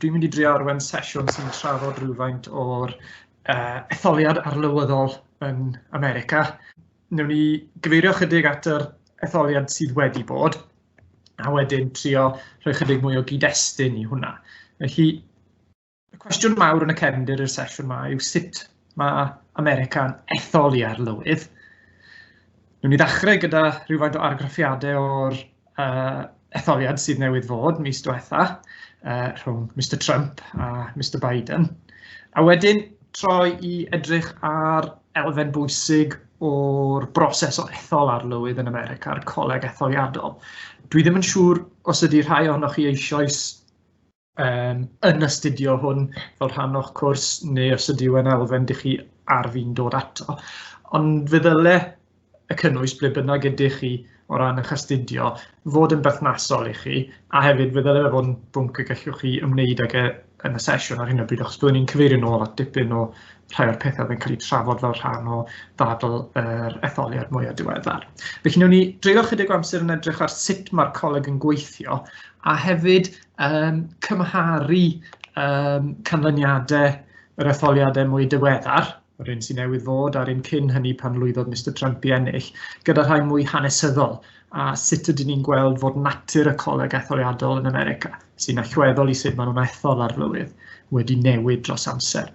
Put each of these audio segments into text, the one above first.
Dwi'n mynd i drio arwain sesiwn sy'n trafod rhywfaint o'r uh, etholiad arlywyddol yn America. Newn ni gyfeirio chydig at yr etholiad sydd wedi bod, a wedyn trio rhoi chydig mwy o gyd-destun i hwnna. Felly, Y cwestiwn mawr yn y cefndir i'r sesiwn yma yw sut mae America'n ethol i arlywydd. Nw'n i ddechrau gyda rhywfaint o argraffiadau o'r uh, etholiad sydd newydd fod mis diwetha uh, rhwng Mr Trump a Mr Biden. A wedyn troi i edrych ar elfen bwysig o'r broses o ethol arlywydd yn America, a'r coleg etholiadol. Dwi ddim yn siŵr os ydy rhai ohonoch chi eisoes um, yn astudio hwn fel rhan o'ch cwrs neu os ydyw yn elfen dych chi ar fi'n dod ato. Ond fe ddyle y cynnwys ble bynnag ydych chi o ran eich astudio fod yn berthnasol i chi a hefyd fe ddyle fe fod yn bwnc y gallwch chi ymwneud ag e yn y sesiwn ar hyn o bryd achos byddwn ni'n cyfeirio nôl at dipyn o rhai o'r pethau yn cael eu trafod fel rhan o ddadl yr etholiad mwyaf diweddar. Felly, newn ni dreulio chydig o amser yn edrych ar sut mae'r coleg yn gweithio a hefyd um, cymharu um, canlyniadau yr etholiadau mwy diweddar, yr un sy'n newydd fod a'r un cyn hynny pan lwyddodd Mr Trump i ennill, gyda rhai mwy hanesyddol a sut ydyn ni'n gweld fod natur y coleg etholiadol yn America, sy'n allweddol i sut maen nhw'n ethol ar lywydd, wedi newid dros amser.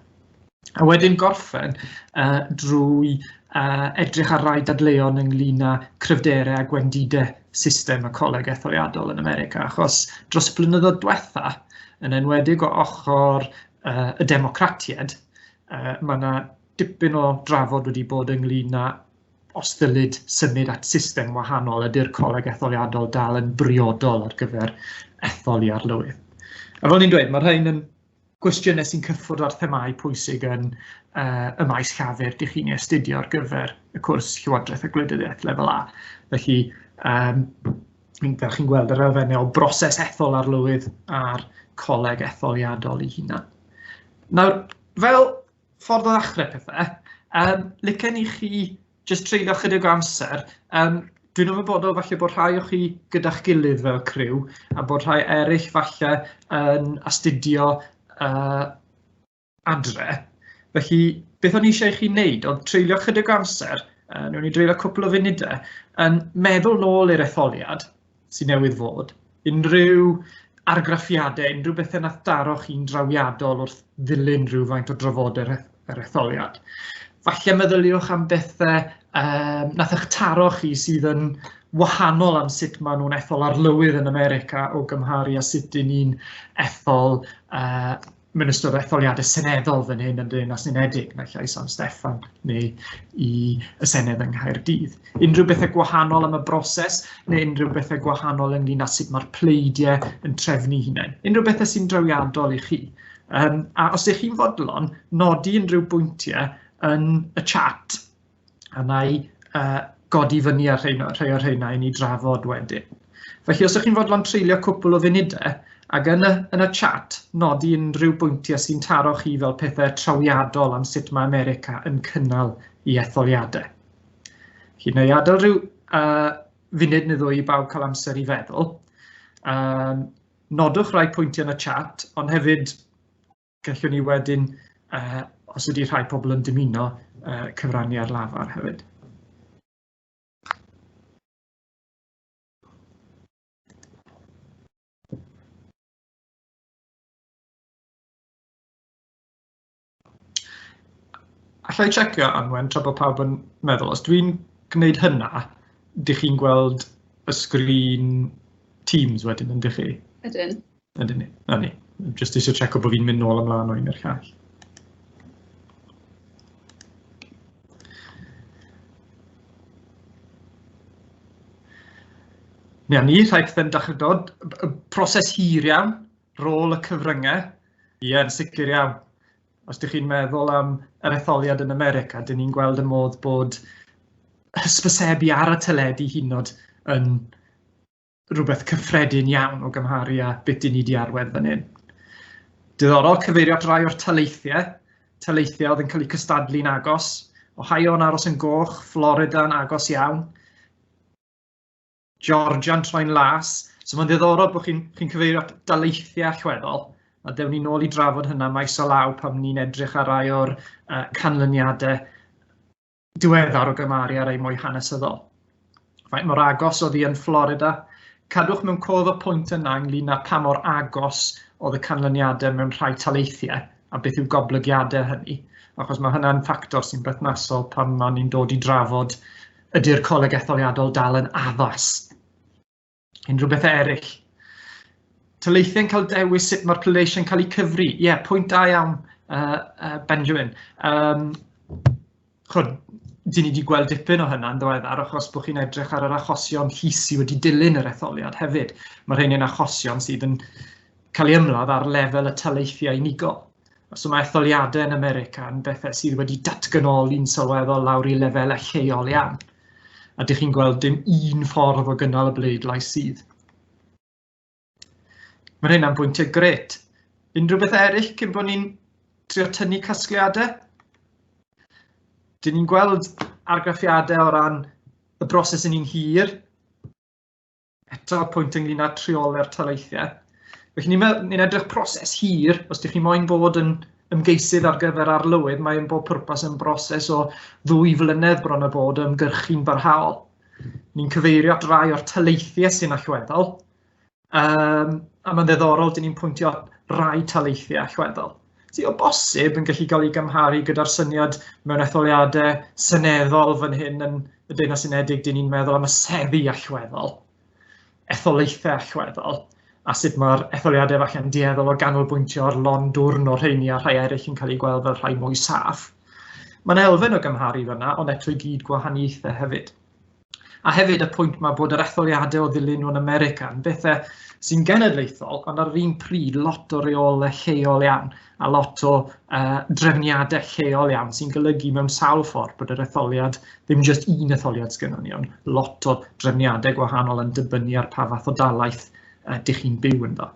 A wedyn gorffen uh, drwy uh, edrych ar rai dadleuon ynglyn â cryfderau a gwendidau system y coleg etholiadol yn America, achos dros y blynyddoedd diwetha, yn enwedig o ochr uh, y democratiaid, uh, mae yna dipyn o drafod wedi bod ynglyn â os ddylid symud at system wahanol ydy'r coleg etholiadol dal yn briodol ar gyfer etholi arlywydd. A fel ni'n dweud, mae rhain yn cwestiynau sy'n cyffwrdd â'r themâu pwysig yn uh, y maes llafur dych chi'n ei astudio ar gyfer y cwrs Llywodraeth a Gwleidyddiaeth lefel A. Felly, um, da chi'n gweld yr elfennau o broses ethol arlywydd a'r coleg etholiadol i hunan. Nawr, fel ffordd o ddechrau pethau, um, licen i chi jyst treulio chydig o amser. Um, dwi'n ymwybodol falle bod rhai o chi gyda'ch gilydd fel criw a bod rhai eraill falle yn astudio uh, adre. Felly, beth o'n i eisiau chi wneud oedd treulio chydig o amser, uh, nhw'n i dreulio cwpl o funudau, yn meddwl nôl i'r etholiad sydd newydd fod, unrhyw argraffiadau, unrhyw bethau nath daro chi'n drawiadol wrth ddilyn rhywfaint o drafodau'r yr etholiad. Falle meddyliwch am bethau um, nath eich taro chi sydd yn wahanol am sut maen nhw'n ethol arlywydd yn America o gymharu a sut dyn ni'n ethol uh, Mae'n ystod etholiadau seneddol fan hyn yn dyn as unedig, naill ai San Steffan neu i y Senedd yng Nghaerdydd. Unrhyw bethau gwahanol am y broses neu unrhyw bethau gwahanol ynglyn â sut mae'r pleidiau yn trefnu hunain. Unrhyw bethau sy'n drawiadol i chi. Um, a os ydych chi'n fodlon, nodi unrhyw bwyntiau yn y chat a wna i uh, godi fyny ar rheina, rhai o'r rheina i ni drafod wedyn. Felly os ydych chi'n fodlon treulio cwpl o funudau ac yn y, yn y chat nodi unrhyw bwyntiau sy'n taro chi fel pethau trawiadol am sut mae America yn cynnal i etholiadau. Chi neu adael rhyw uh, funud neu ddwy i bawb cael amser i feddwl. Um, nodwch rai pwyntiau yn y chat, ond hefyd Gallwn ni wedyn, uh, os ydy rhai pobl yn dymuno, uh, cyfrannu ar lafar hefyd. Alla i checio anwen tra bod pawb yn meddwl, os dwi'n gwneud hynna, dych chi'n gweld y sgrin Teams wedyn, yn dych chi? Ydyn. Ydyn ni, na ni. Just eisiau checo bod fi'n mynd nôl ymlaen o'n i'r llall. Neu ni, rhaid ddim dechrau dod. Proses hir iawn, rôl y cyfryngau, ie, yn sicr iawn. Os ydych chi'n meddwl am yr etholiad yn America, dyn ni'n gweld y modd bod hysbysebu ar y teledu hynod yn rhywbeth cyffredin iawn o gymharu â beth dyn ni wedi arwain fan hyn. Diddorol cyfeirio at rai o'r taleithiau, taleithiau oedd yn cael eu cystadlu'n agos, Ohio yn aros yn goch, Florida yn agos iawn, Georgia'n troi'n las, so mae'n ddiddorol bod chi'n chi cyfeirio at daleithiau allweddol, a dewn ni nôl i drafod hynna maes o law pan ni'n edrych ar rai o'r uh, canlyniadau diweddar o gymaru ar ei mwy hanesyddol. Faint mor agos oedd hi yn Florida? Cadwch mewn cof y pwynt yna ynglyn â pa mor agos oedd y canlyniadau mewn rhai taleithiau a beth yw goblygiadau hynny, achos mae hynna'n ffactor sy'n berthnasol pan ma'n ni'n dod i drafod ydy'r coleg etholiadol dal yn addas. Unrhyw bethau eraill? Tyleithau'n cael dewis sut mae'r pleidleisiau'n cael eu cyfri. Ie, yeah, pwynt da iawn, uh, uh, Benjamin. Um, chod, dyn ni wedi gweld dipyn o hynna'n ddiweddar achos bod chi'n edrych ar yr achosion llys sydd wedi dilyn yr etholiad hefyd. Mae rhain yn achosion sydd yn cael ei ymladd ar lefel y taleithiau unigol. So mae etholiadau yn America yn bethau sydd wedi datganoli'n sylweddol lawr i lefelau lleol iawn. A dych chi'n gweld dim un ffordd o gynnal y bleidlais sydd. Mae hynna'n bwyntiau gret. Unrhyw beth eraill cyn bod ni'n trio tynnu casgliadau? Dyn ni'n gweld argraffiadau o ran y broses yn un hir. eto pwynt ynglyn â treoler talaethiau. Felly ni'n ni, ni edrych proses hir, os ydych chi moyn bod yn ymgeisydd ar gyfer arlywydd, mae'n bob pwrpas yn broses o ddwy flynedd bron a bod o ymgyrchu'n barhaol. Ni'n cyfeirio at rai o'r taleithiau sy'n allweddol, um, a mae'n ddeddorol, dyn ni'n pwyntio rai taleithiau allweddol. sydd o bosib yn gallu cael ei gymharu gyda'r syniad mewn etholiadau seneddol fan hyn yn y Deyrnas Unedig, dyn ni'n meddwl am y seddi allweddol, etholaethau allweddol, a sut mae'r etholiadau falle yn dueddol o ganolbwyntio ar lon dwrn o'r rheini a rhai eraill yn cael eu gweld fel rhai mwy saff. Mae'n elfen o gymharu fyna, ond eto i gyd gwahaniaethau hefyd. A hefyd y pwynt mae bod yr etholiadau o ddilyn nhw'n America yn bethau sy'n genedlaethol, ond ar yr un pryd lot o reolau lleol iawn a lot o uh, drefniadau lleol iawn sy'n golygu mewn sawl ffordd bod yr etholiad ddim jyst un etholiad sgynnon ni, ond lot o drefniadau gwahanol yn dibynnu ar pa fath o dalaeth uh, dych chi'n byw ynddo.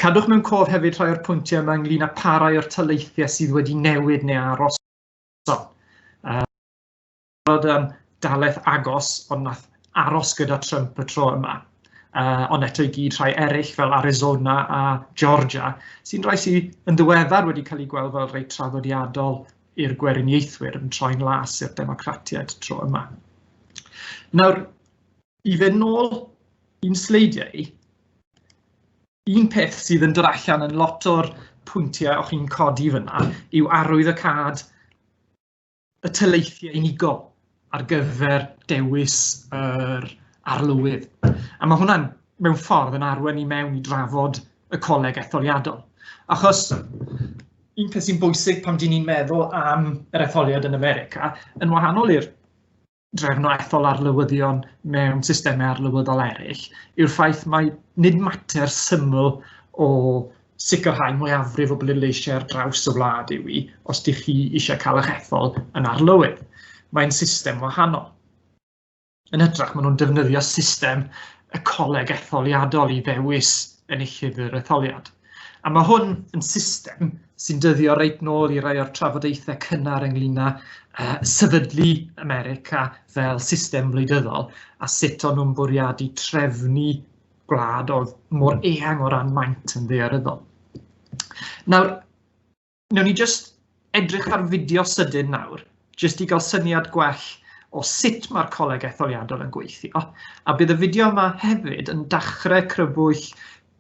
Cadwch mewn cof hefyd rhai o'r pwyntiau yma ynglyn â parai o'r taleithiau sydd wedi newid neu aros. So, uh, gweld um, dalaeth agos, ond nath aros gyda Trump y tro yma. Uh, ond eto i gyd rhai eraill fel Arizona a Georgia, sy'n rhai sydd yn ddiweddar wedi cael eu gweld fel rhai traddodiadol i'r gweriniaethwyr yn troi'n las i'r democratiaid tro yma. Nawr, i fe nôl i'n sleidiau, un peth sydd yn dod allan yn lot o'r pwyntiau o'ch chi'n codi fyna yw arwydd y cad y tyleithiau unigol ar gyfer dewis yr arlywydd. A mae hwnna'n mewn ffordd yn arwen i mewn i drafod y coleg etholiadol. Achos un peth sy'n bwysig pan dyn ni'n meddwl am yr etholiad yn America, yn wahanol i'r drefnau ethol arlywyddion mewn systemau arlywyddol eraill yw'r ffaith mae nid mater syml o sicrhau mwyafrif o bleidleisiau ar draws y wlad yw i os ydych chi eisiau cael eich ethol yn arlywydd. Mae'n system wahanol. Yn hytrach, maen nhw'n defnyddio system y coleg etholiadol i ddewis enillydd yr etholiad. A mae hwn yn system sy'n dyddio reit nôl i rai o'r trafodaethau cynnar ynglyn â uh, sefydlu America fel system wleidyddol a sut o'n nhw'n bwriadu trefnu gwlad oedd mor eang o ran maint yn ddearyddol. Nawr, Newn ni jyst edrych ar fideo sydyn nawr, jyst i gael syniad gwell o sut mae'r coleg etholiadol yn gweithio. A bydd y fideo yma hefyd yn dachrau crybwyll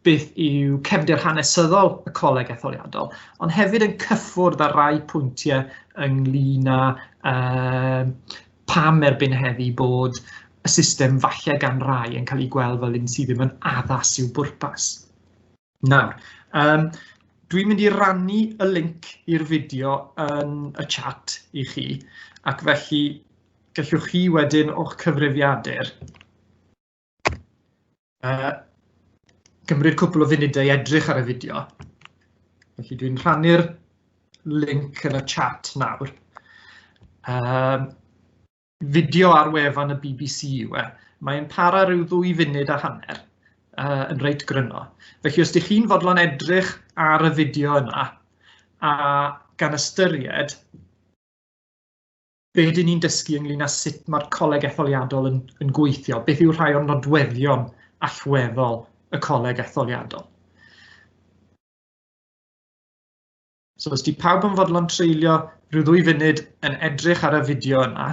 beth yw cefndir hanesyddol y coleg etholiadol, ond hefyd yn cyffwrdd ar rai pwyntiau ynglyn â uh, pam erbyn heddi bod y system falle gan rai yn cael ei gweld fel un sydd ddim yn addas i'w bwrpas. Nawr, um, dwi'n mynd i rannu y link i'r fideo yn y chat i chi, ac felly gallwch chi wedyn o'ch cyfrifiadur uh, gymryd cwpl o funudau i edrych ar y fideo. Felly dwi'n rhannu'r link yn y chat nawr. Um, fideo ar wefan y BBC yw e. Mae'n para rhyw ddwy funud a hanner uh, yn reit gryno. Felly os ydych chi'n fodlon edrych ar y fideo yna a gan ystyried be dyn ni'n dysgu ynglyn â sut mae'r coleg etholiadol yn, yn gweithio, beth yw rhai o'n nodweddion allweddol y coleg etholiadol. So os di pawb yn fodlon treulio rhyw ddwy funud yn edrych ar y fideo yna,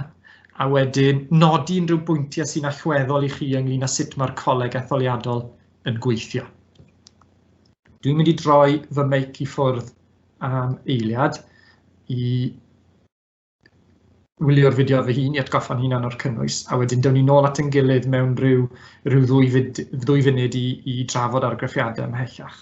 a wedyn nodi unrhyw bwyntiau sy'n allweddol i chi ynglyn â sut mae'r coleg etholiadol yn gweithio. Dwi'n mynd i droi fy meic i ffwrdd am eiliad i wylio'r fideo fy hun i atgoffa'n hunan o'r cynnwys, a wedyn dewn ni nôl at yn gilydd mewn rhyw, rhyw ddwy, fyd, ddwy funud i, i drafod argraffiadau ymhellach.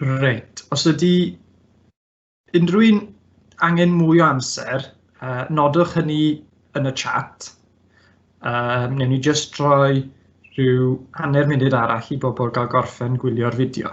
Reit, os ydy unrhyw un angen mwy o amser, uh, nodwch hynny yn y chat. Uh, newn ni jyst rhoi rhyw hanner munud arall i bobl gael gorffen gwylio'r fideo.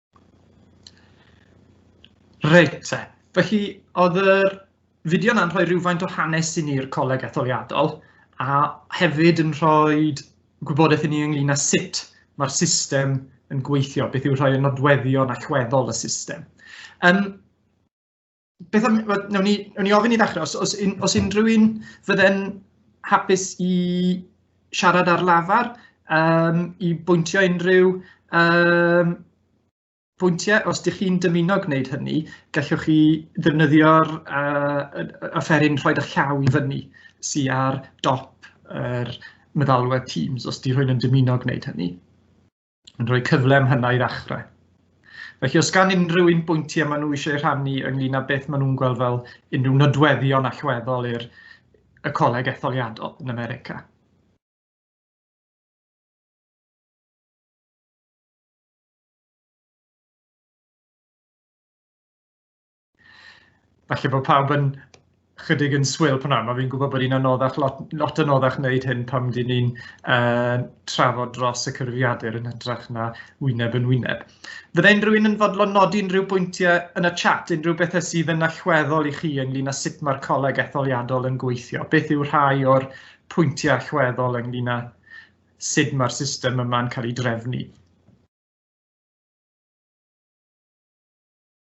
Reit te, felly oedd yr fideo yna'n rhoi rhywfaint o hanes i ni'r coleg etholiadol a hefyd yn rhoi gwybodaeth i ni ynglyn â sut mae'r system yn gweithio, beth yw rhai o nodweddion allweddol y system. Um, beth am, nawn ni, nawn ni ofyn i ddechrau, os, os, un, os unrhyw un fydden hapus i siarad ar lafar, um, i bwyntio unrhyw um, pwyntiau, os ydych chi'n dymuno gwneud hynny, gallwch chi ddefnyddio'r uh, offeryn rhoi eich llaw i fyny sy'n ar dop yr meddalwedd Teams, os ydych chi'n dymuno gwneud hynny. yn rhoi cyfle am hynna i ddechrau. Felly os gan unrhyw un bwyntiau maen nhw eisiau rhannu ynglyn â beth maen nhw'n gweld fel unrhyw nodweddion allweddol i'r y coleg etholiadol yn America. Falle bod pawb yn chydig yn swil pan nawr, mae fi'n gwybod bod hi'n anoddach, lot, lot anoddach wneud hyn pam dyn ni'n uh, trafod dros y cyfrifiadur yn hytrach na wyneb yn wyneb. Fydde unrhyw un yn fodlon nodi unrhyw bwyntiau yn y chat, unrhyw bethau sydd yn allweddol i chi ynglyn â sut mae'r coleg etholiadol yn gweithio? Beth yw rhai o'r pwyntiau allweddol ynglyn â sut mae'r system yma'n cael ei drefnu?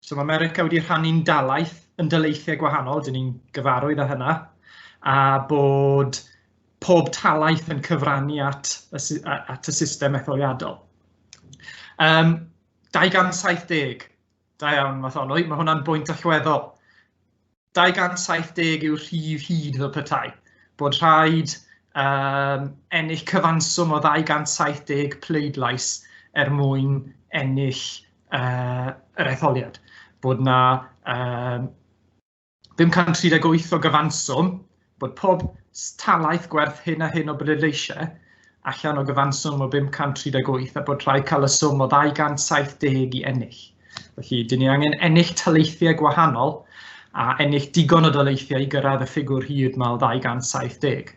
So mae America wedi rhannu'n dalaeth yn dyleithiau gwahanol, dyn ni'n gyfarwydd â hynna, a bod pob talaeth yn cyfrannu at y, at y system etholiadol. Um, 270, da iawn Matholwy, mae hwnna'n bwynt allweddol. 270 yw'r rhif hyd fel petai bod rhaid um, ennill cyfanswm o 270 pleidlais er mwyn ennill uh, yr etholiad. Bod na um, 538 o gyfanswm Bod pob talaith gwerth hyn a hyn o bleidleisiau allan o gyfanswm o 538 a bod rhai cael y swm o 270 i ennill. Felly, dyn ni angen ennill taleithiau gwahanol a ennill digon o daleithiau i gyrraedd y ffigwr hyd mae o 270.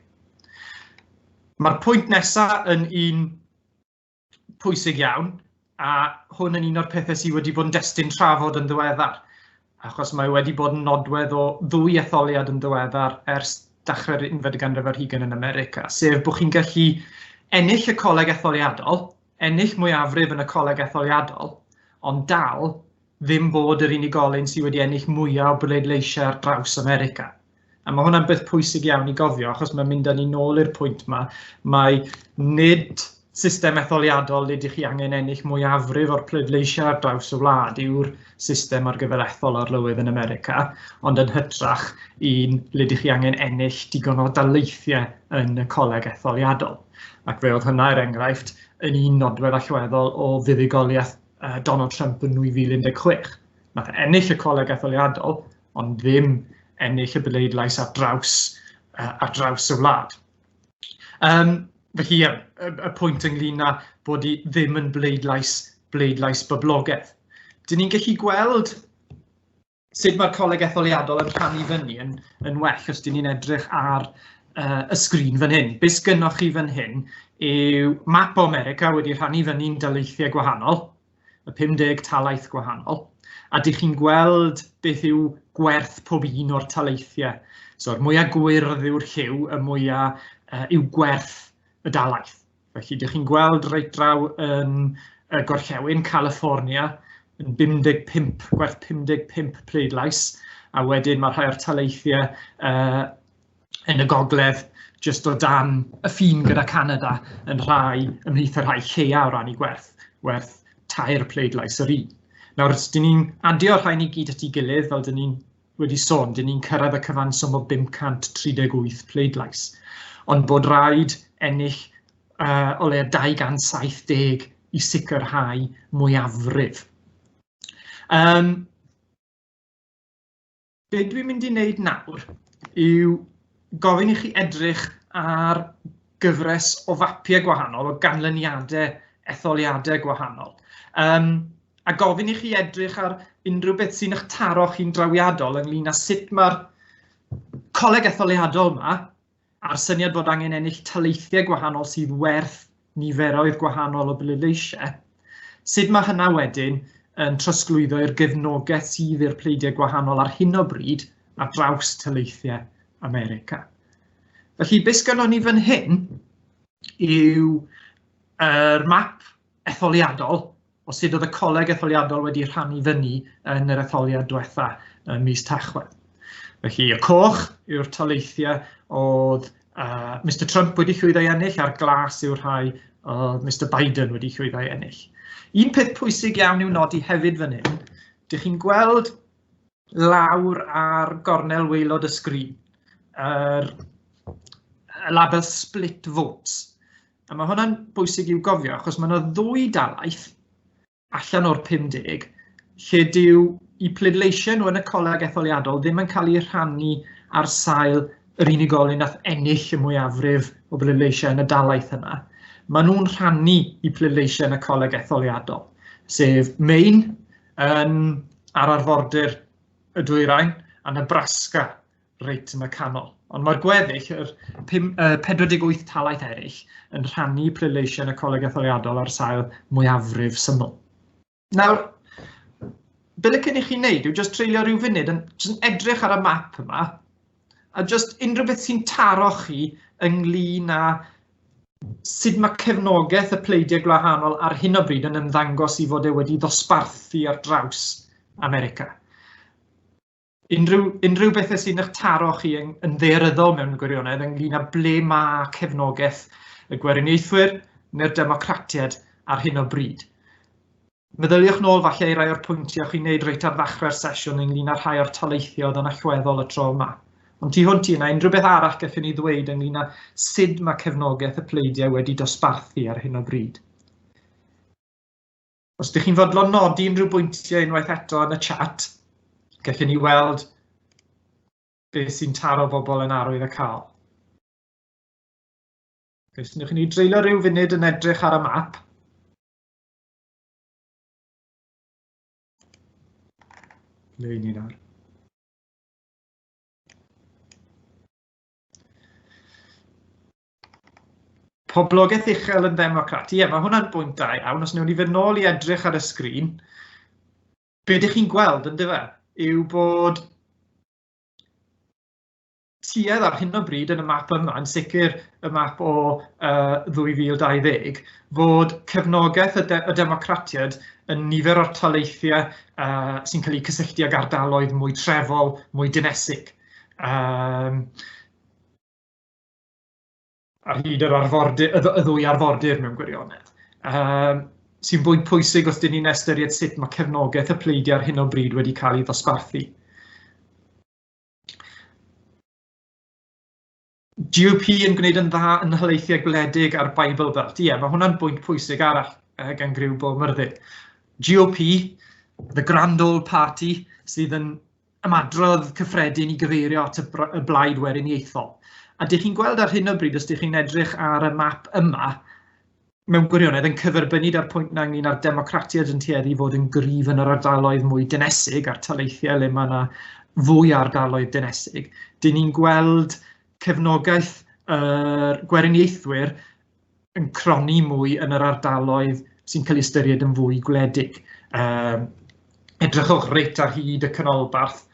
Mae'r pwynt nesaf yn un pwysig iawn, a hwn yn un o'r pethau sydd wedi bod yn destun trafod yn ddiweddar, achos mae wedi bod yn nodwedd o ddwy etholiad yn ddiweddar ers dechrau'r unfed ganrif ar hugain yn America, sef bod chi'n gallu ennill y coleg etholiadol, ennill mwyafrif yn y coleg etholiadol, ond dal ddim bod yr unigolyn sydd wedi ennill mwyaf o bleidleisiau ar draws America. A mae hwnna'n beth pwysig iawn i gofio, achos mae'n mynd â ni nôl i'r pwynt yma, mae nid system etholiadol le ydych chi angen ennill mwyafrif o'r pleidleisiau ar draws y wlad yw'r system ar gyfer ethol arlywydd yn America, ond yn hytrach un le ydych chi angen ennill digon o daleithiau yn y coleg etholiadol. Ac fe oedd hynna, er enghraifft, yn un nodwedd allweddol o fuddugoliaeth Donald Trump yn 2016. Nath ennill y coleg etholiadol, ond ddim ennill y bleidlais ar draws, uh, ar draws y wlad. Um, felly, y, y pwynt ynglyn â bod i ddim yn bleidlais, bleidlais boblogaeth. Dyn ni'n gallu gweld sut mae'r coleg etholiadol yn rhannu fyny yn, yn well os dyn ni'n edrych ar uh, y sgrin fan hyn. Beth gynnwch chi fan hyn yw map o America wedi rhannu fyny'n daleithiau gwahanol, y 50 talaeth gwahanol, a dych chi'n gweld beth yw gwerth pob un o'r taleithiau. So'r mwyaf gwyrdd yw'r lliw, y mwyaf uh, yw gwerth y dalaeth. Felly, dych chi'n gweld reit draw yn y gorllewin, California, yn 55, gwerth 55 pleidlais, a wedyn mae rhai o'r taleithiau uh, yn y gogledd jyst o dan y ffin gyda Canada yn rhai ymhlith y rhai lleia o ran i gwerth, werth tair pleidlais yr un. Nawr, os dyn ni'n adio rhain i gyd at ei gilydd, fel dyn ni'n wedi sôn, dyn ni'n cyrraedd y cyfanswm o 538 pleidlais, ond bod rhaid ennill uh, o leia 270 i sicrhau mwyafrif. Um, be dwi'n mynd i wneud nawr yw gofyn i chi edrych ar gyfres o fapiau gwahanol, o ganlyniadau etholiadau gwahanol. Um, a gofyn i chi edrych ar unrhyw beth sy'n eich taro chi'n drawiadol ynglyn â sut mae'r coleg etholiadol yma a'r syniad bod angen ennill taleithiau gwahanol sydd werth niferoedd gwahanol o bleidleisiau, sut mae hynna wedyn yn trosglwyddo i'r gefnogaeth sydd i'r pleidiau gwahanol ar hyn o bryd ar draws taleithiau America. Felly, beth sgynnon ni fan hyn yw yr map etholiadol o sut oedd y coleg etholiadol wedi rhannu fyny yn yr etholiad diwetha ym mis Tachwedd. Felly, y coch yw'r taleithiau oedd uh, Mr Trump wedi llwyddo i ennill a'r glas yw'r rhai oedd Mr Biden wedi llwyddo i ennill. Un peth pwysig iawn i'w nodi hefyd fan hyn, dych chi'n gweld lawr ar gornel waelod y sgrin, yr y label split votes. A mae hwnna'n bwysig i'w gofio achos mae yna ddwy dalaeth allan o'r 50 lle dyw i pleidleisio nhw yn y coleg etholiadol ddim yn cael ei rhannu ar sail yr unigolyn nath ennill y mwyafrif o bleidleisiau yn y dalaeth yna. Maen nhw'n rhannu i pleidleisiau yn y coleg etholiadol, sef Maine, yn ar arfordir y dwyrain a Nebraska reit yn y canol. Ond mae'r gweddill, yr 48 talaeth eraill, yn rhannu pleidleisiau y coleg etholiadol ar sail mwyafrif syml. Nawr, be licen i chi wneud yw jyst treulio rhyw funud yn, yn edrych ar y map yma A jyst unrhyw beth sy'n taro chi ynglyn â sut mae cefnogaeth y pleidiau gwahanol ar hyn o bryd yn ymddangos i fod e wedi ddosbarthu ar draws America. Unrhyw, unrhyw bethau sy'n eich taro chi yn, yn ddearyddol mewn gwirionedd ynglyn â ble mae cefnogaeth y gweriniaethwyr neu'r democratiaid ar hyn o bryd. Meddyliwch nôl falle i rai o'r pwyntiau chi'n neud reit ar ddechrau'r sesiwn ynglyn â rhai o'r taleithio oedd yn allweddol y tro yma. Ond tu hwnt i yna, unrhyw beth arall gallwn ni ddweud ynglyn â sut mae cefnogaeth y pleidiau wedi dosbarthu ar hyn o bryd. Os ydych chi'n fodlon nodi unrhyw bwyntiau unwaith eto yn y chat, gallwn ni weld beth sy'n taro bobl yn arwydd y cael. Felly, ni dreulio rhyw funud yn edrych ar y map. Ble i ni nawr? Poblogaeth uchel yn ddemocrat. Ie, mae hwnna'n bwynt da iawn. Os newn ni fynd nôl i edrych ar y sgrin, be ydych chi'n gweld yn dyfa yw bod tuedd ar hyn o bryd yn y map yma, yn sicr y map o uh, 2020, fod cefnogaeth y, de y democratiad yn nifer o'r taleithiau uh, sy'n cael eu cysylltu ag ardaloedd mwy trefol, mwy dinesig. Um, ar hyd yr arfordir, y ddwy arfordir mewn gwirionedd. Um, sy'n fwy pwysig os dyn ni'n estyried sut mae cefnogaeth y pleidiau ar hyn o bryd wedi cael ei ddosbarthu. GOP yn gwneud yn dda yn halaethiau gwledig a'r Bible Belt. Ie, yeah, mae hwnna'n bwynt pwysig arall uh, gan griw Bob Myrddin. GOP, the Grand Old Party, sydd yn ymadrodd cyffredin i gyfeirio at y blaid weriniaethol. A dych chi'n gweld ar hyn o bryd, os dych chi'n edrych ar y map yma, mewn gwirionedd yn cyferbynnu da'r pwynt na ynglyn â'r democratiaid yn tueddu i fod yn gryf yn yr ardaloedd mwy dynesig a'r taleithiau le mae yna fwy ardaloedd dynesig. Dyn ni'n gweld cefnogaeth yr gweriniaethwyr yn croni mwy yn yr ardaloedd sy'n cael ei ystyried yn fwy gwledig. Um, edrychwch reit ar hyd y canolbarth,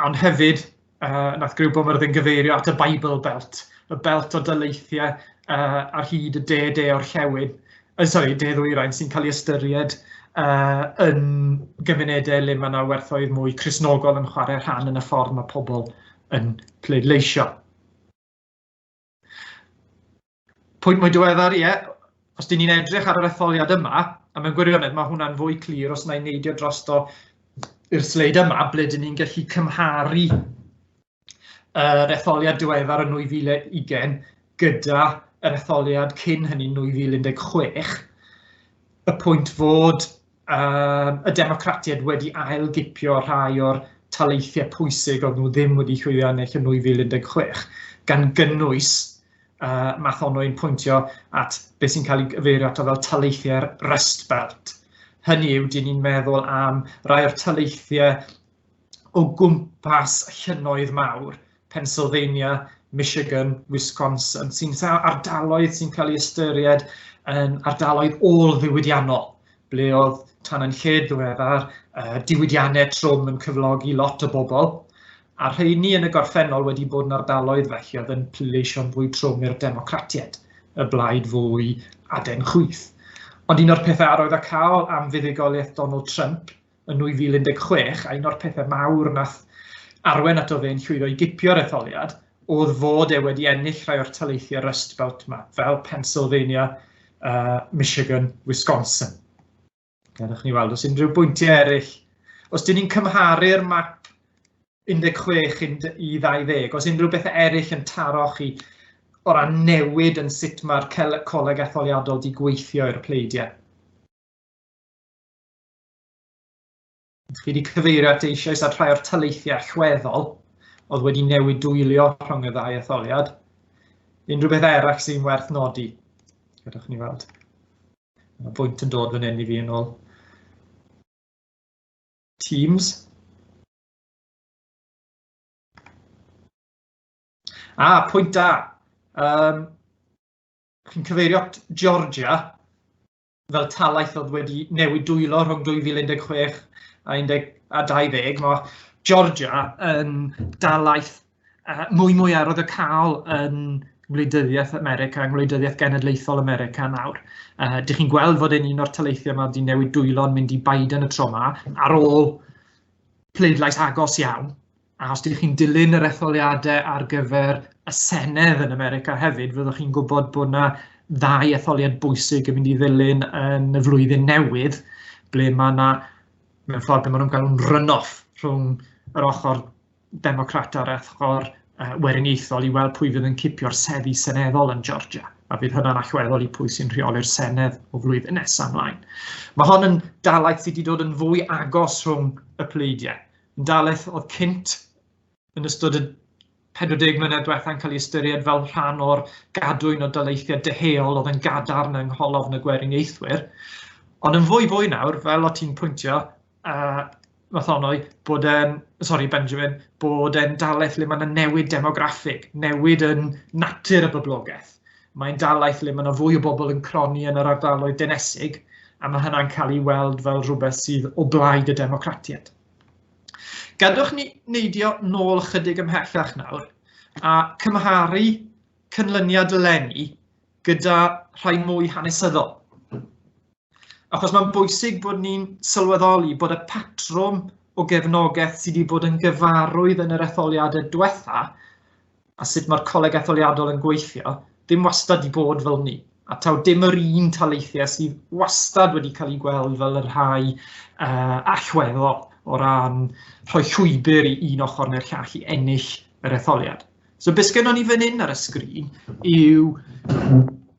ond hefyd uh, nath Griw Bwfyrdd yn gyfeirio at y Bible Belt, y belt o dyleithiau uh, ar hyd y de de o'r llewyn, uh, sorry, de ddwyrain sy'n cael ei ystyried uh, yn gymunedau le mae yna werthoedd mwy chrysnogol yn chwarae rhan yn y ffordd mae pobl yn pleidleisio. Pwynt mwy diweddar, ie, os dyn ni'n edrych ar yr etholiad yma, a mewn gwirionedd mae hwnna'n fwy clir os na'i neidio drosto i'r sleid yma, ble dyn ni'n gallu cymharu yr etholiad diweddar yn 2020 gyda yr etholiad cyn hynny 2016, y pwynt fod um, y democratiaid wedi ailgipio rhai o'r taleithiau pwysig oedd nhw ddim wedi chwilio yn eich yn 2016, gan gynnwys uh, math ono i'n pwyntio at beth sy'n cael ei gyfeirio ato fel taleithiau'r Rust Belt. Hynny yw, dyn ni'n meddwl am rai o'r taleithiau o gwmpas llynnoedd mawr, Pennsylvania, Michigan, Wisconsin, sy'n ardaloedd sy'n cael ei ystyried yn ardaloedd ôl-ddiwydiannol, ble oedd tan yn lled ddiweddar uh, diwydiannau trwm yn cyflogi lot o bobl, a rheini yn y gorffennol wedi bod yn ardaloedd felly oedd yn pleidleisio'n fwy trwm i'r democratiaid, y blaid fwy aden chwyth. Ond un o'r pethau arwydd a cael am fuddugoliaeth Donald Trump yn 2016, a un o'r pethau mawr nath arwen ato fe'n llwyddo i gipio'r etholiad, oedd fod e wedi ennill rhai o'r taleithiau Rust Belt ma, fel Pennsylvania, uh, Michigan, Wisconsin. Gadewch ni weld os unrhyw bwyntiau eraill. Os dyn ni'n cymharu'r map 16 i 20, os unrhyw bethau eraill yn taro chi o ran newid yn sut mae'r coleg etholiadol di gweithio i'r pleidiau? Chi wedi cyfeirio at eisoes at rhai o'r taleithiau allweddol oedd wedi newid dwylio rhwng y ddau etholiad. Unrhyw beth arall sy'n werth nodi? Gadwch ni weld. Mae bwynt yn dod fan hyn i fi yn ôl. Teams. A, ah, pwynt da. Um, chi'n cyfeirio at Georgia, fel talaith oedd wedi newid dwylo rhwng 2016 a 10 a 20, mae Georgia yn dalaeth uh, mwy mwy arodd y cael yn Ngwleidyddiaeth America, yng Ngwleidyddiaeth Genedlaethol America nawr. Uh, dych chi'n gweld fod e'n un o'r taleithiau yma wedi newid dwylo'n mynd i Biden y tro yma, ar ôl pleidlais agos iawn, A os ydych chi'n dilyn yr etholiadau ar gyfer y Senedd yn America hefyd, fyddwch chi'n gwybod bod yna ddau etholiad bwysig yn mynd i ddilyn yn y flwyddyn newydd, ble mae yna, mewn ffordd, be maen nhw'n galw'n run-off rhwng yr ochr democrat a'r ochr uh, weriniaethol i weld pwy fydd yn cipio'r seddi seneddol yn Georgia. A fydd hynna'n allweddol i pwy sy'n rheoli'r Senedd o flwyddyn nesaf ymlaen. Mae hon yn dalaeth sydd wedi dod yn fwy agos rhwng y pleidiau. yn dalaith oedd cynt yn ystod y 40 mlynedd diwethaf yn cael ei ystyried fel rhan o'r gadwyn o daleithiau deheuol oedd yn gadarn yng ngholofn y gweriniaethwyr. Ond yn fwy fwy nawr, fel o ti'n pwyntio, uh, Mathonoi, bod e'n, sori Benjamin, bod e'n dalaeth le mae yna newid demograffig, newid yn natur y boblogaeth. mae'n dalaeth le mae yna fwy o bobl yn cronni yn yr ardaloedd denesig, a mae hynna'n cael ei weld fel rhywbeth sydd o blaid y democratiaid. Gadwch ni neidio nôl ychydig ymhellach nawr a cymharu cynlyniad Lenny gyda rhai mwy hanesyddol. Achos mae'n bwysig bod ni'n sylweddoli bod y patrwm o gefnogaeth sydd wedi bod yn gyfarwydd yn yr etholiadau diwetha a sut mae'r coleg etholiadol yn gweithio, dim wastad i bod fel ni. A taw dim yr un taleithiau sydd wastad wedi cael ei gweld fel y rhai uh, allweddol o ran rhoi llwybr i un ochr neu'r llall i ennill yr etholiad. So beth sgynnon ni fan hyn ar y sgrin yw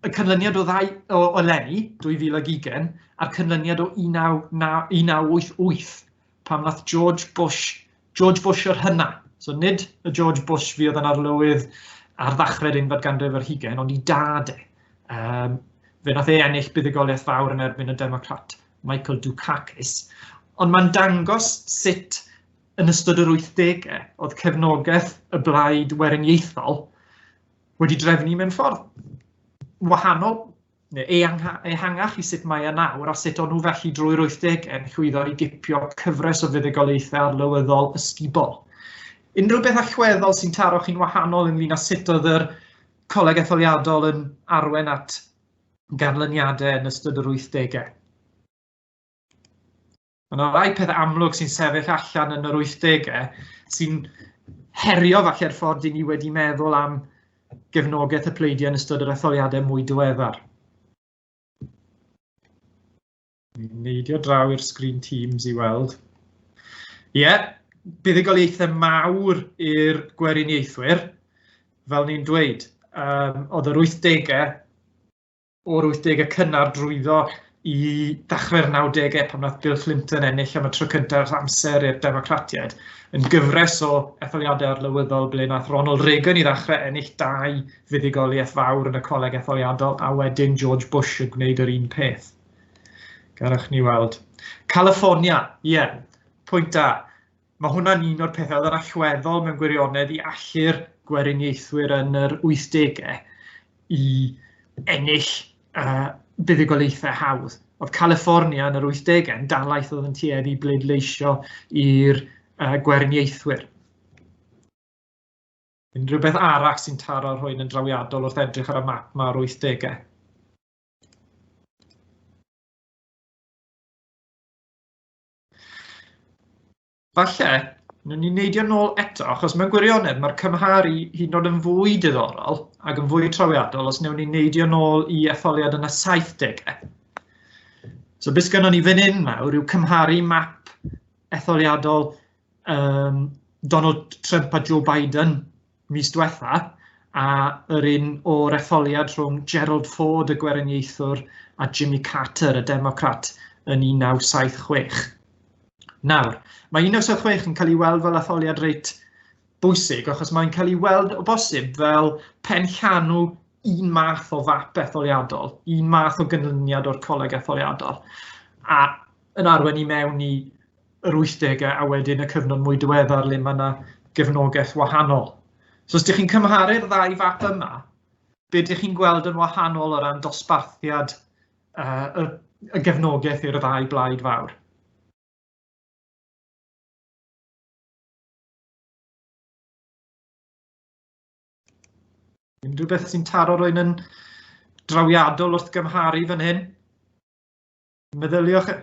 y canlyniad o, ddau, o, o Lenny 2020 a'r canlyniad o 1988 pan nath George Bush, George Bush yr hynna, so nid y George Bush fi oedd yn arlywydd ar ddachrau'r unfed ganrif yr hugen, ond i dad e. Um, fe nath e ennill buddigoliaeth fawr yn erbyn y Democrat Michael Dukakis, ond mae'n dangos sut yn ystod yr wythdegau, oedd cefnogaeth y blaid weriniaethol wedi drefnu mewn ffordd wahanol neu ehangach i sut mae yna nawr a sut o'n nhw felly drwy'r wythdegau yn llwyddo i gipio cyfres o fuddugoliaethau arlywyddol ysgubol. Unrhyw beth allweddol sy'n taro chi'n wahanol ynglyn â sut oedd yr coleg etholiadol yn arwen at ganlyniadau yn ystod yr wythdegau? Mae yna rai pethau amlwg sy'n sefyll allan yn yr 80au sy'n herio falle'r ffordd i ni wedi meddwl am gefnogaeth y pleidiau yn ystod yr etholiadau mwy diweddar. Neidio draw i'r sgrin Teams i weld. Ie, yeah, buddigoliaethau mawr i'r gweriniaethwyr, fel ni'n dweud. Um, oedd yr 80au o'r 80au cynnar drwyddo i ddechrau'r 90au pan wnaeth Bill Clinton ennill am y tro cyntaf ers amser i'r Democratiaid yn gyfres o etholiadau arlywyddol ble wnaeth Ronald Reagan i ddechrau ennill dau fuddugoliaeth fawr yn y coleg etholiadol a wedyn George Bush yn gwneud yr un peth. Garwch ni weld. California, ie, yeah, pwynt da. Mae hwnna'n un o'r pethau oedd yn allweddol mewn gwirionedd i allu'r gweriniaethwyr yn yr 80au i ennill uh, buddugoliaethau hawdd. Oedd California yn yr 80au yn dalaeth oedd yn tueddu bleidleisio i'r uh, gweriniaethwyr. Unrhyw beth arall sy'n taro rhywun yn drawiadol wrth edrych ar y map mae'r 80au. Falle, nhw'n ni'n neidio nôl eto, achos mewn gwirionedd mae'r cymharu hyd yn oed yn fwy diddorol ac yn fwy trawiadol os newn ni'n neidio nôl i etholiad yn y 70au. So beth gynnon ni fan hyn nawr yw cymharu map etholiadol um, Donald Trump a Joe Biden mis diwetha', a yr un o'r etholiad rhwng Gerald Ford, y Gweriniaethwr, a Jimmy Carter, y Democrat, yn 1976. Nawr, mae 1976 yn cael ei weld fel etholiad reit bwysig, achos mae'n cael ei weld o bosib fel pen llanw un math o fap etholiadol, un math o gynlyniad o'r coleg etholiadol, a yn arwen i mewn i yr wythdegau a wedyn y cyfnod mwy diweddar le mae yna gefnogaeth wahanol. So os ydych chi'n cymharu'r ddau fap yma, be ydych chi'n gweld yn wahanol o ran dosbarthiad uh, y, y gefnogaeth i'r ddau blaid fawr? Unrhyw beth sy'n taro rwy'n yn drawiadol wrth gymharu fan hyn? Meddyliwch... E-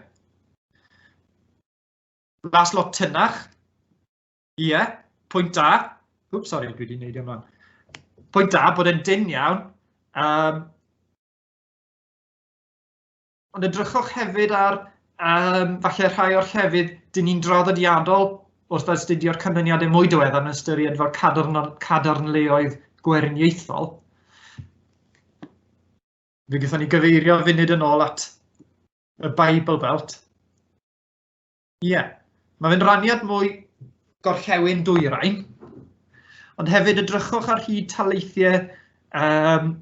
Las lot tynnach. Ie, yeah, pwynt da. Wp, sori, dwi wedi gwneud yma. Pwynt da bod yn dyn iawn. Um, ond edrychwch hefyd ar um, falle rhai o'r llefydd dyn ni'n draddodiadol wrth astudio'r canlyniadau mwy diweddar yn ystyried fel cadarn, cadarnleoedd gwerniaethol. Fe gyda ni gyfeirio funud yn ôl at y Bible Belt. Ie, yeah. mae fe'n raniad mwy gorllewin dwyrain, ond hefyd y drychwch ar hyd taleithiau um,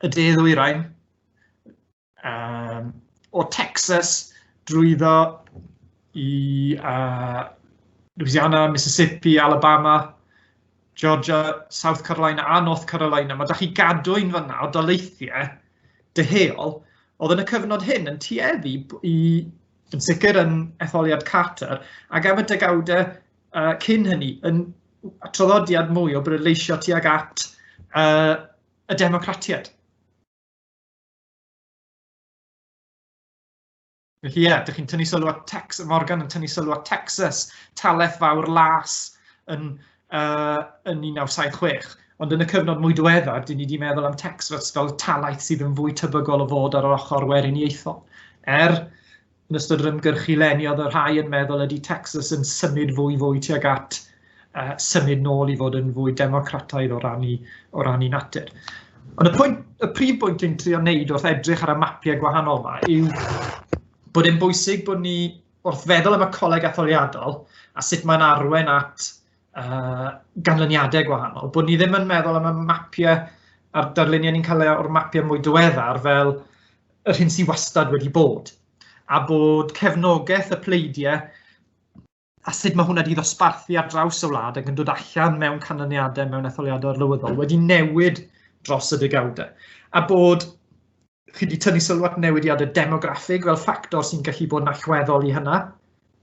y de ddwyrain, um, o Texas drwyddo i uh, Louisiana, Mississippi, Alabama, Georgia, South Carolina a North Carolina, mae da chi gadw un fanna o daleithiau dyheol, oedd yn y cyfnod hyn yn tueddu i, yn sicr yn etholiad Carter, ac am y degawdau uh, cyn hynny, yn traddodiad mwy o breleisio tuag at uh, y democratiaid. Felly ie, yeah, dych chi'n tynnu sylw at Tex, Morgan yn tynnu sylw at Texas, taleth fawr las yn, uh, yn 1976. Ond yn y cyfnod mwy diweddar, dyn ni wedi meddwl am Tex fel, fel talaeth sydd yn fwy tebygol o fod ar yr ochr weriniaethol. Er, yn ystod yr ymgyrchu leniodd y rhai yn meddwl ydy Texas yn symud fwy fwy tuag at uh, symud nôl i fod yn fwy democrataidd o ran i, o ran i natur. Ond y, pwynt, y prif bwynt yn trio wneud wrth edrych ar y mapiau gwahanol yma yw bod yn bwysig bod ni wrth feddwl am y coleg etholiadol a sut mae'n arwen at uh, ganlyniadau gwahanol, bod ni ddim yn meddwl am y mapiau a'r darluniau ni'n cael o'r mapiau mwy diweddar fel yr hyn sy'n wastad wedi bod, a bod cefnogaeth y pleidiau a sut mae hwnna wedi ddosbarthu ar draws y wlad ac yn dod allan mewn canlyniadau mewn etholiadau arlywyddol wedi newid dros y degawdau. A bod chi wedi tynnu sylw at newidiadau demograffig fel ffactor sy'n gallu bod yn allweddol i hynna.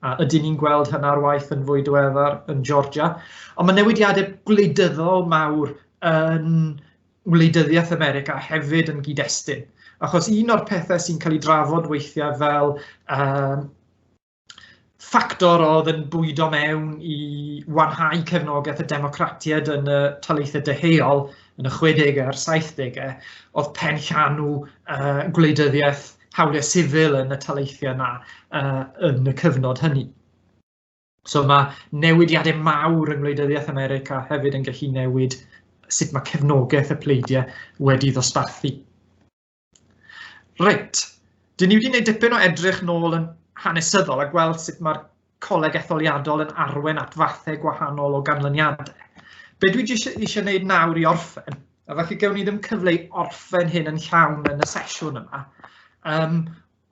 A ydyn ni'n gweld hynna ar waith yn fwy diweddar yn Georgia. Ond mae newidiadau gwleidyddol mawr yn wleidyddiaeth America hefyd yn gyd-destun. Achos un o'r pethau sy'n cael ei drafod weithiau fel um, ffactor oedd yn bwydo mewn i wanhau cefnogaeth y democratiaid yn y taleithau deheuol yn y 60au a'r 70au oedd pen llanw uh, gwleidyddiaeth hawliau sifil yn y taleithiau yna uh, yn y cyfnod hynny. So mae newidiadau mawr yng Ngwleidyddiaeth America hefyd yn gallu newid sut mae cefnogaeth y pleidiau wedi ddosbarthu. Reit, dyn ni wedi gwneud dipyn o edrych nôl yn hanesyddol a gweld sut mae'r coleg etholiadol yn arwen at fathau gwahanol o ganlyniadau. Be dwi eisiau, eisiau gwneud nawr i orffen, a felly gewn ni ddim cyfle i orffen hyn yn llawn yn y sesiwn yma, um,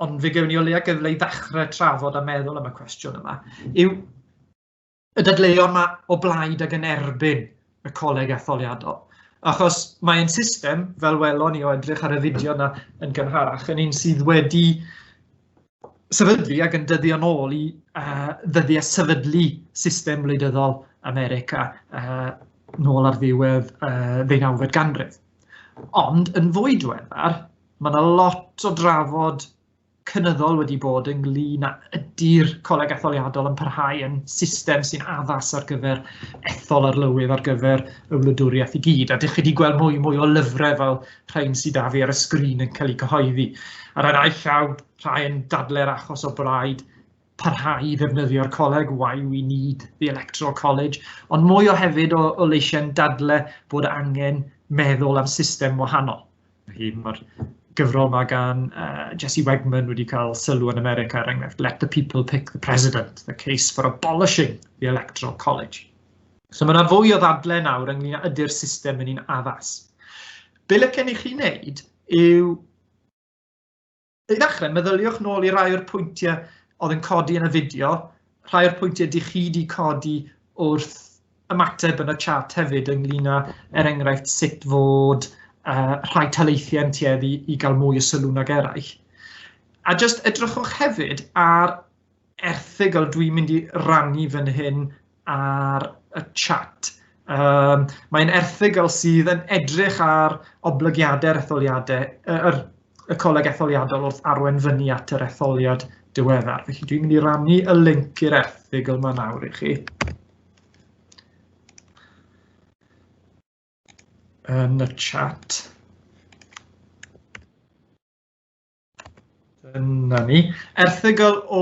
ond fe gewn ni o leia gyfle i ddechrau trafod a meddwl am y cwestiwn yma, yw y dadleuon mae o blaid ac yn erbyn y coleg etholiadol. Achos mae'n system, fel welon ni o edrych ar y fideo yna yn gynharach, yn un sydd wedi sefydlu ac yn dyddio yn ôl i uh, ddyddiau sefydlu system wleidyddol America uh, nôl ar ddiwedd uh, ddeunawfed ganrif. Ond yn fwy diweddar, mae yna lot o drafod cynyddol wedi bod ynglyn â ydy'r coleg etholiadol yn parhau yn system sy'n addas ar gyfer ethol arlywydd ar gyfer y wladwriaeth i gyd. A dych chi wedi gweld mwy mwy o lyfrau fel rhain sydd â fi ar y sgrin yn cael eu cyhoeddi. Ar y naill llaw, rhai yn dadlau'r achos o braid parhau i ddefnyddio'r coleg, why we need the electoral college, ond mwy o hefyd o, o leisiau'n dadle bod angen meddwl am system wahanol. Felly mae'r gyfrol mae gan uh, Jesse Wegman wedi cael sylw yn America, er enghraifft, Let the People Pick the President, the case for abolishing the electoral college. So mae yna fwy o ddadle nawr ynglyn â ydy'r system yn un addas. Be lycen i chi wneud yw I ddechrau, meddyliwch nôl i rai o'r pwyntiau oedd yn codi yn y fideo, rhai o'r pwyntiau dych chi wedi codi wrth ymateb yn y chat hefyd ynglyn â, er enghraifft, sut fod uh, rhai taleithiau yn tueddu i gael mwy o sylw nag eraill. A jyst edrychwch hefyd ar erthygl dwi'n mynd i rannu fan hyn ar y chat. Um, mae'n erthygl sydd yn edrych ar oblygiadau'r etholiadau, yr, y coleg etholiadol wrth arwen fyny at yr etholiad diweddar. Felly dwi'n mynd i rannu y link i'r erthygl yma nawr i chi. Yn y chat. Dyna ni. Erthygl o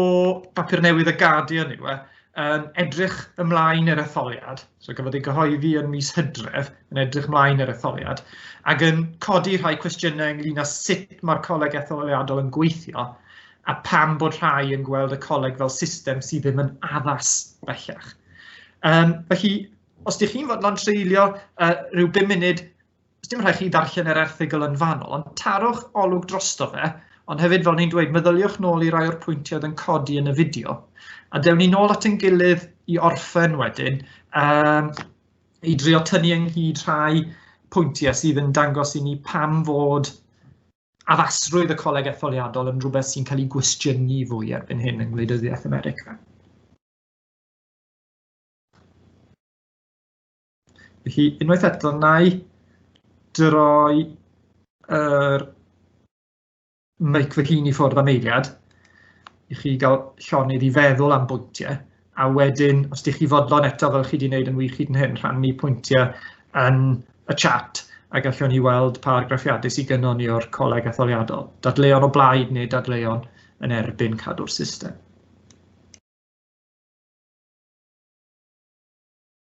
bapur newydd y Guardian yw e, yn edrych ymlaen i'r etholiad, so gafodd ei gyhoeddi yn mis Hydref, yn edrych ymlaen i'r etholiad, ac yn codi rhai cwestiynau ynglyn â sut mae'r coleg etholiadol yn gweithio, a pam bod rhai yn gweld y coleg fel system sydd ddim yn addas bellach. Um, felly, os ydych chi'n fodlon treulio uh, rhyw 5 munud os dim rhaid chi ddarllen yr erthygl yn fanol, ond tarwch olwg drosto fe, ond hefyd fel ni'n dweud, meddyliwch nôl i rai o'r pwyntiau yn codi yn y fideo, a dewn ni nôl at ein gilydd i orffen wedyn, um, i drio tynnu ynghyd rhai pwyntiau sydd yn dangos i ni pam fod addasrwydd y coleg etholiadol yn rhywbeth sy'n cael ei gwestiynu fwy erbyn hyn yng Ngwleidyddiaeth America. Felly, unwaith eto, na i droi yr mic fy hun i ffwrdd am eiliad i chi gael llonydd i feddwl am bwyntiau a wedyn os ydych chi fodlon eto fel chi wedi gwneud yn wych hyd yn hyn rhannu pwyntiau yn y chat a gallwn ni weld pa argraffiadau sydd gynnon ni o'r coleg etholiadol. Dadleuon o blaid neu dadleuon yn erbyn cadw'r system.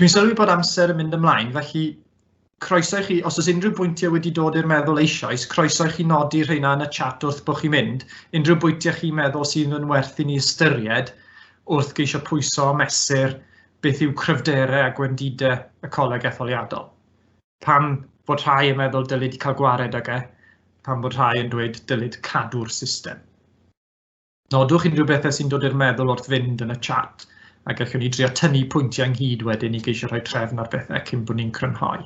Dwi'n sylwi bod amser yn mynd ymlaen, felly croeso i chi, os oes unrhyw bwyntiau wedi dod i'r meddwl eisoes, croeso i chi nodi rheina yn y chat wrth bod chi'n mynd, unrhyw bwyntiau chi'n meddwl sydd yn werth i ni ystyried wrth geisio pwyso a mesur beth yw cryfderau a gwendidau y coleg etholiadol. Pam bod rhai yn meddwl dylid cael gwared ag e, pam bod rhai yn dweud dylid cadw'r system. Nodwch unrhyw bethau sy'n dod i'r meddwl wrth fynd yn y chat a gallwn ni drio tynnu pwyntiau ynghyd wedyn i geisio rhoi trefn ar bethau cyn bod ni'n crynhoi.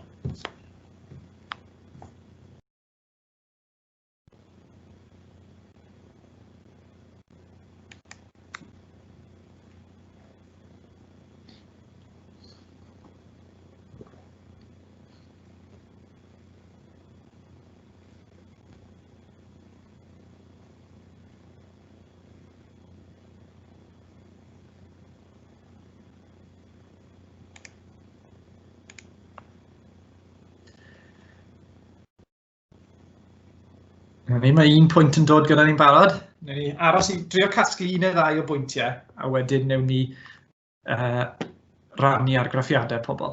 Ni mae un pwynt yn dod gyda ni'n barod. Newn ni aros i drio casglu un neu ddau o bwyntiau a wedyn newn ni uh, rannu ar graffiadau pobl.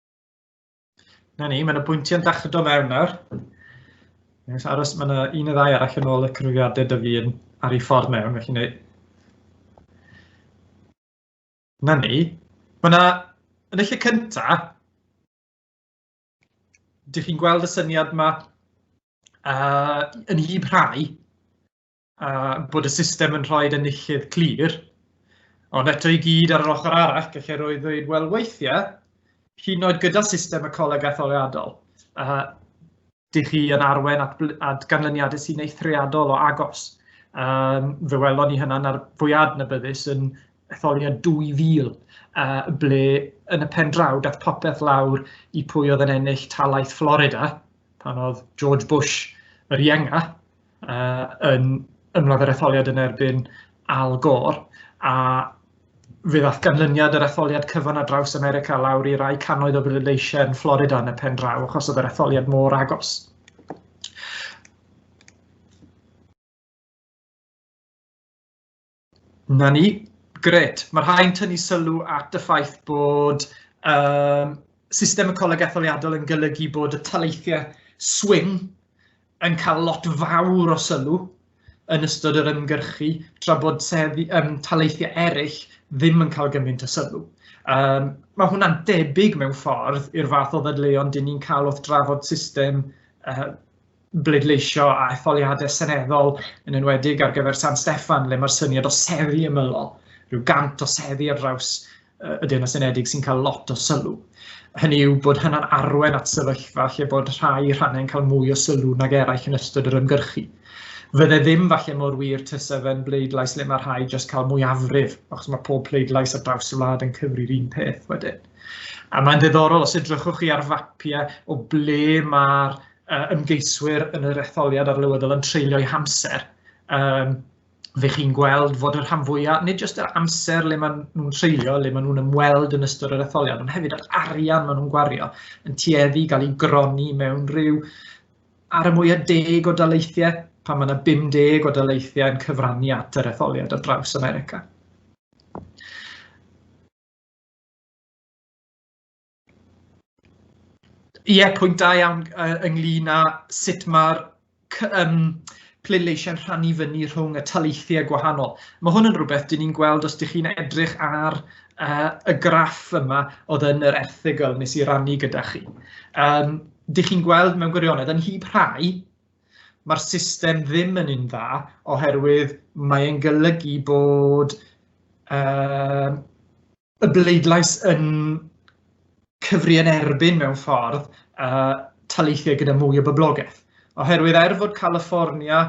Na ni, mae'n y bwyntiau'n dach o mewn nawr. Nes aros, mae yna un y ddau arall yn ôl y cyfrifiadau dy fi yn ar ei ffordd mewn, felly neu... Na ni. Mae yna, yn y lle cyntaf, dych chi'n gweld y syniad yma uh, yn hyb rhai, a bod y system yn rhoi enillydd clir. Ond eto i gyd ar yr ochr arall, gallai roi ddweud, wel weithiau, hyn oed gyda system y coleg etholiadol, a dych chi yn arwen at, at ganlyniadau sy'n eithriadol o agos. Um, fe welon ni hynna'n ar fwyad na byddus yn etholiad 2000, uh, ble yn y pen draw dath popeth lawr i pwy oedd yn ennill talaeth Florida, pan oedd George Bush yr ienga, yn ymladd yr etholiad yn erbyn Al Gore a fe ddaeth ganlyniad yr etholiad cyfan ar draws America lawr i rai cannoedd o bleidleisiau yn Florida yn y pen draw achos oedd yr etholiad mor agos. Na ni. Gret. Mae rhai'n tynnu sylw at y ffaith bod um, system y coleg etholiadol yn golygu bod y taleithiau swing yn cael lot fawr o sylw yn ystod yr ymgyrchu, tra bod seddi, um, taleithiau eraill ddim yn cael gymaint o sylw. Um, mae hwnna'n debyg mewn ffordd i'r fath o ddadleuon dyn ni'n cael wrth drafod system uh, bleidleisio a etholiadau seneddol, yn enwedig ar gyfer San Steffan, le mae'r syniad o seddi ymylol, rhyw gant o seddi ar draws y Deyrnas Unedig sy'n cael lot o sylw. Hynny yw bod hynna'n arwen at sefyllfa lle bod rhai rhannau'n cael mwy o sylw nag eraill yn ystod yr ymgyrchu. Fydde ddim falle mor wir tysa fe'n bleidlais le mae rhai jyst cael mwyafrif, achos mae pob pleidlais ar draws y wlad yn cyfri'r un peth wedyn. A mae'n ddiddorol, os edrychwch chi ar fapiau o ble mae'r uh, ymgeiswyr yn yr etholiad arlywyddol yn treulio'i hamser, um, fe chi'n gweld fod yr rhan fwyaf, nid jyst yr amser le maen nhw'n treulio, le maen nhw'n ymweld yn ystod yr etholiad, ond hefyd yr arian maen nhw'n gwario yn tueddu gael ei gronni mewn rhyw ar y mwyaf deg o daleithiau, pan mae yna 50 o daleithiau yn cyfrannu at yr etholiad ar draws America. Ie, yeah, pwynt da iawn uh, ynglyn â sut mae'r um, pleidleisiau'n rhannu fyny rhwng y taleithiau gwahanol. Mae hwn yn rhywbeth dyn ni'n gweld os ydych chi'n edrych ar uh, y graff yma oedd yn yr erthigol nes i rannu gyda chi. Um, dych chi'n gweld mewn gwirionedd yn hyb rhai, mae'r system ddim yn un dda oherwydd mae'n golygu bod uh, y bleidlais yn cyfri yn erbyn mewn ffordd uh, taleithiau gyda mwy o boblogaeth. Oherwydd er fod California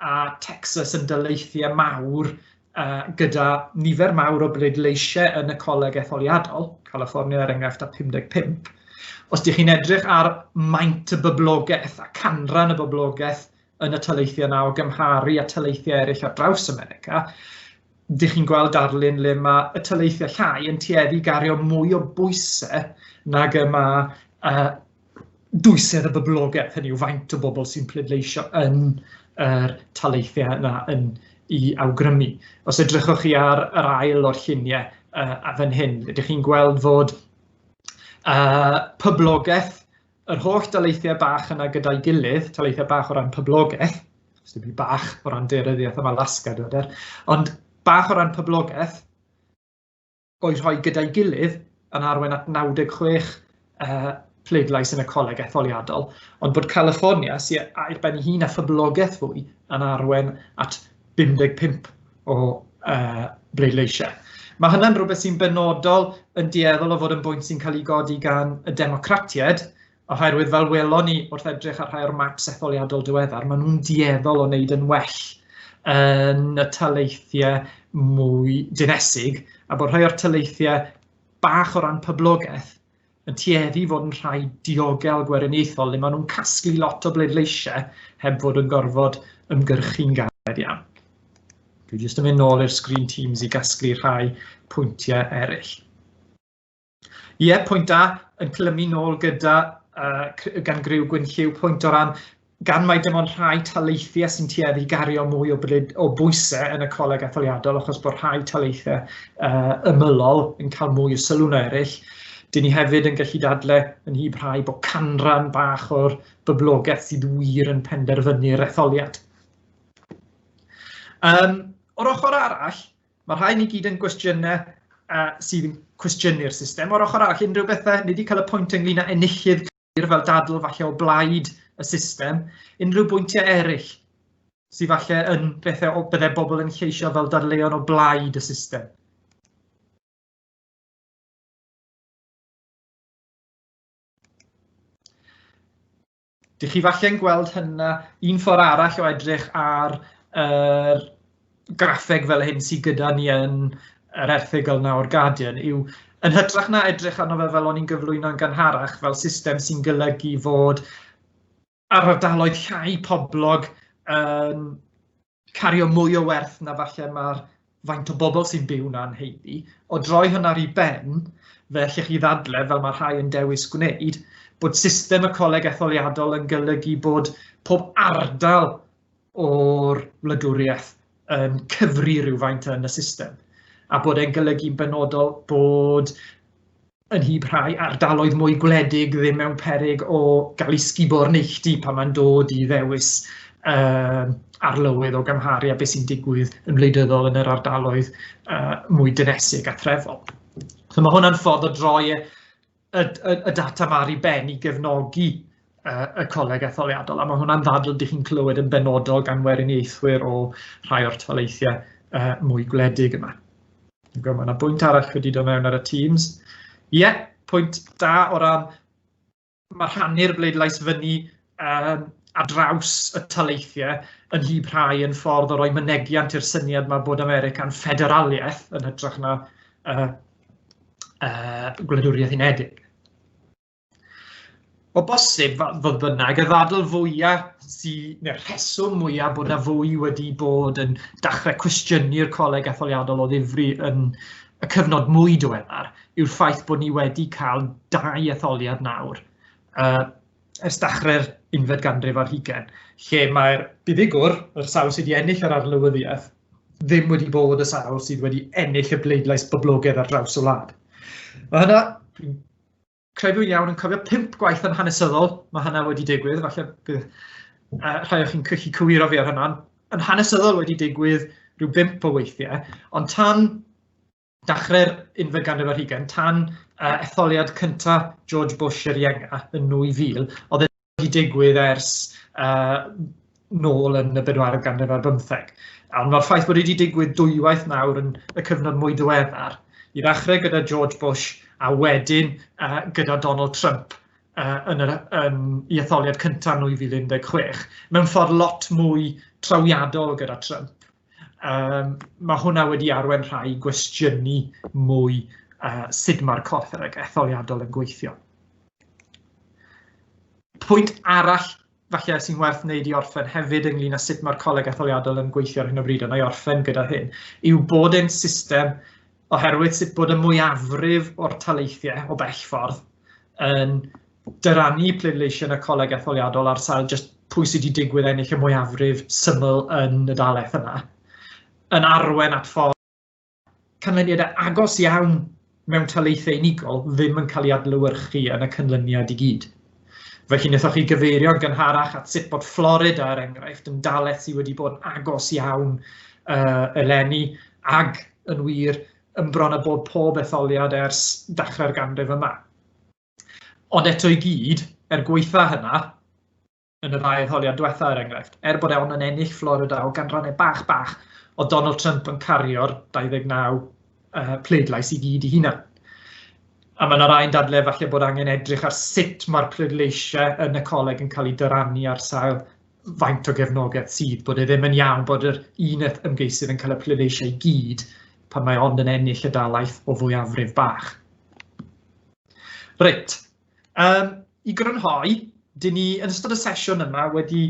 a Texas yn daleithiau mawr uh, gyda nifer mawr o bleidleisiau yn y coleg etholiadol, California er enghraifft â 55, os ydych chi'n edrych ar maint y boblogaeth a canran y boblogaeth yn y taleithiau yna o gymharu a taleithiau eraill ar draws America, dych chi'n gweld darlun le mae y taleithiau llai yn tueddu gario mwy o bwysau nag y mae uh, dwysedd y boblogaeth, hynny yw faint o bobl sy'n pleidleisio yn yr taleithiau yna yn i awgrymu. Os edrychwch chi ar yr ail o'r lluniau uh, a fan hyn, ydych chi'n gweld fod uh, poblogaeth Yr holl daleithiau bach yna gyda'i gilydd, taleithiau bach o ran poblogaeth, os dim byd bach o ran deiryddiaeth am Alaska, dwi'n dweud, ond bach o ran poblogaeth, o'i rhoi gyda'i gilydd yn arwain at 96 uh, pleidlais yn y coleg etholiadol, ond bod California, sy'n a'i ben ei hun a phoblogaeth fwy, yn arwain at 55 o uh, bleidleisiau. Mae hynny'n rhywbeth sy'n benodol yn dueddol o fod yn bwynt sy'n cael ei godi gan y democratiaid, oherwydd fel welon ni wrth edrych ar rhai o'r map setholiadol diweddar, maen nhw'n dueddol o wneud yn well yn y taleithiau mwy dinesig, a bod rhai o'r taleithiau bach o ran poblogaeth yn tueddu fod yn rhai diogel gweriniaethol le maen nhw'n casglu lot o bleidleisiau heb fod yn gorfod ymgyrchu'n galed iawn. Dwi jyst yn mynd nôl i'r screen teams i gasglu rhai pwyntiau eraill. Ie, pwynt da, yn clymu nôl gyda uh, gan Griw Gwynlliw, pwynt o ran gan mai dim ond rhai taleithiau sy'n tueddu i gario mwy o, bryd, o bwysau yn y coleg etholiadol achos bod rhai taleithiau uh, ymylol yn cael mwy o sylw na eraill. Dyn ni hefyd yn gallu dadle yn hyb rhai bod canran bach o'r byblogaeth sydd wir yn penderfynu'r etholiad. Um, o'r ochr arall, mae rhai ni gyd yn gwestiynau uh, sydd yn cwestiynu'r system. O'r ochr arall, unrhyw bethau, ni wedi cael y pwynt ynglyn â enillydd glir fel dadl falle o blaid y system, unrhyw bwyntiau eraill sydd falle yn bethau o byddai bobl yn lleisio fel dadleuon o blaid y system. Dych chi falle'n gweld hynna un ffordd arall o edrych ar yr graffeg fel hyn sydd gyda ni yn yr erthygl na o'r Guardian yw yn hytrach na edrych arno fe fel o'n i'n gyflwyno'n gynharach fel system sy'n golygu fod ar ardaloedd llai poblog yn cario mwy o werth na falle mae'r faint o bobl sy'n byw na'n heiddi. O droi hwnna i ben, fe allech chi ddadle, fel mae rhai yn dewis gwneud, bod system y coleg etholiadol yn golygu bod pob ardal o'r wladwriaeth yn cyfri rhywfaint yn y system a bod e'n golygu'n benodol bod yn hyb rhai ardaloedd mwy gwledig ddim mewn peryg o gael ei sgubo o'r neilltu pan mae'n dod i ddewis uh, arlywydd o gymharu a beth sy'n digwydd yn wleidyddol yn yr ardaloedd uh, mwy dynesig a threfol. So mae hwnna'n ffordd o droi e y, y, y data mae ar ei ben i gefnogi uh, y coleg etholiadol, a mae hwnna'n ddadl dych chi'n clywed yn benodol gan weriniaethwyr o rhai o'r toleithiau uh, mwy gwledig yma. Mae yna bwynt arall wedi dod mewn ar y Teams. Ie, yeah, pwynt da o ran mae rhannu'r bleidlais fyny um, a draws y taleithiau yn hi rhai yn ffordd o roi mynegiant i'r syniad mae bod America'n ffederaliaeth yn hytrach na uh, uh, gwladwriaeth unedig. O bosib, fodd bynnag, y ddadl fwyaf sydd, neu'r rheswm mwyaf bod na fwy wedi bod yn dachrau cwestiynu'r coleg etholiadol o ddifri yn y cyfnod mwy diweddar yw'r ffaith bod ni wedi cael dau etholiad nawr uh, ers dachrau'r unfed ganrif ar hugen, lle mae'r buddugwr, yr sawl sydd wedi ennill yr arlywyddiaeth, ddim wedi bod y sawl sydd wedi ennill y bleidlais boblogaidd ar draws y wlad. Mae hynna, dwi'n credu'n iawn yn cofio pimp gwaith yn hanesyddol, mae hynna wedi digwydd, falle bydd uh, rhai o'ch chi'n cychu cywiro fi ar hynna, yn hanesyddol wedi digwydd rhyw bimp o weithiau, ond tan Dachreu'r unfed ganrif ar hugain tan uh, etholiad cyntaf George Bush yr Ienga yn 2000, oedd e wedi digwydd ers uh, nôl yn y bedwaredd ganrif ar bymtheg. Ond mae'r ffaith bod wedi digwydd dwywaith nawr yn y cyfnod mwy diweddar, i ddechrau gyda George Bush a wedyn uh, gyda Donald Trump uh, yn yr um, i etholiad cyntaf 2016, mewn ffordd lot mwy trawiadol gyda Trump Um, mae hwnna wedi arwen rhai gwestiynu mwy uh, sut mae'r corff yr etholiadol yn gweithio. Pwynt arall falle sy'n werth wneud i orffen hefyd ynglyn â sut mae'r coleg etholiadol yn gweithio ar hyn o bryd, ond i orffen gyda hyn, yw bod ein system oherwydd sut bod y mwyafrif o'r taleithiau o bell ffordd yn dyrannu pleidleisiau yn y coleg etholiadol ar sail jyst pwy sydd wedi digwydd ennill y mwyafrif syml yn y dalaeth yna, yn arwen at ffordd canlyniadau agos iawn mewn taleithau unigol ddim yn cael ei adlewyrchu yn y cynlyniad i gyd. Fe wnaethoch chi gyfeirio yn gynharach at sut bod Florida, er enghraifft, yn dalaeth sydd wedi bod yn agos iawn uh, eleni, ag yn wir, yn bron a bod pob etholiad ers dechrau'r ganrif yma. Ond eto i gyd, er gweitha hynna, yn y ddau etholiad diwetha er enghraifft, er bod e ond yn ennill Florida o ganrannau bach bach, o Donald Trump yn cario'r 29 uh, pleidlais i gyd i hunan. A mae yna rai'n dadle falle bod angen edrych ar sut mae'r pleidleisiau yn y coleg yn cael eu dyrannu ar sail faint o gefnogaeth sydd, bod e ddim yn iawn bod yr un ymgeisydd yn cael y pleidleisiau i gyd pan mae ond yn ennill y dalaeth o fwyafrif bach. Reit, um, i grynhoi, dyn ni yn ystod y sesiwn yma wedi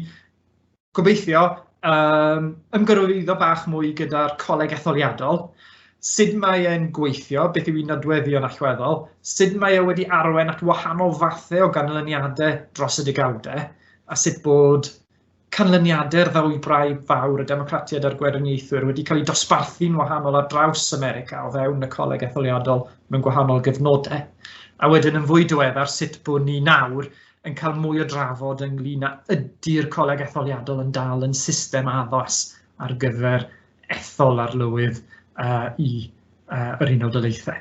gobeithio um, ymgyrwyddo bach mwy gyda'r coleg etholiadol, sut mae e'n gweithio, beth yw ei nodweddion allweddol, sut mae e wedi arwen at wahanol fathau o ganlyniadau dros y degawdau, a sut bod canlyniadau'r ddwybrau fawr y Democratiaid a'r Gweriniaethwyr wedi cael eu dosbarthu'n wahanol ar draws America o fewn y Coleg Etholiadol mewn gwahanol gyfnodau, a wedyn yn fwy diweddar sut bod ni nawr yn cael mwy o drafod ynglyn â ydy'r Coleg Etholiadol yn dal yn system addas ar gyfer ethol arlywydd uh, i uh, yr Unol Daleithiau.